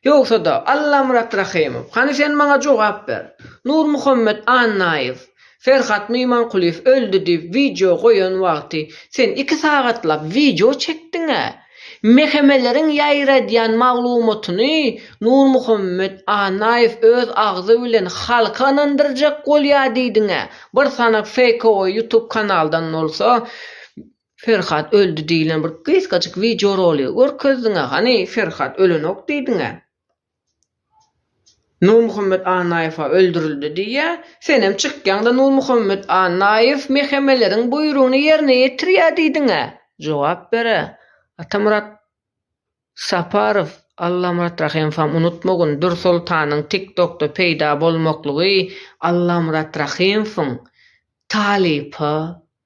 Ýogsa-da, Allamyrat Rahymow, hany sen maňa jogap ber, Nurmuhammet Annaýew, Ferhat Mymankulyýew öldi diýip wideo goýan wagty sen iki sagatlap wideo çekdiň-ä, mehemeleriň ýaýradýan maglumatyny Nurmuhammet Annaýew öz agzy bilen halky ynandyrjak bolýa diýdiň-ä, bir sanak feýkowy ýutub kanaldan bolsa, Ferhat öldi diýlen bir gysgajyk wideo rolygy görkezdiňä hany Ferhat ölenok diýdiňä. Nurmuhammet Annaýewa öldürildi diýýä senem çykýaňda Nurmuhammet Annaýew mehemeleriň buýrugyny ýerine ýetirýä diýdiňä jogap berä Atamyrat Saparow Allamyrat Rahymowam unutmagyn Dürsoltanyň tik tokda peýda bolmaklygy Allamyrat Rahymowyň talypa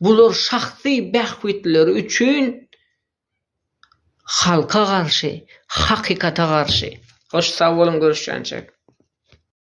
Bular şahsy bähbitleri üçin halka garşy, hakykata garşy. Hoş sag boluň görüşýänçek.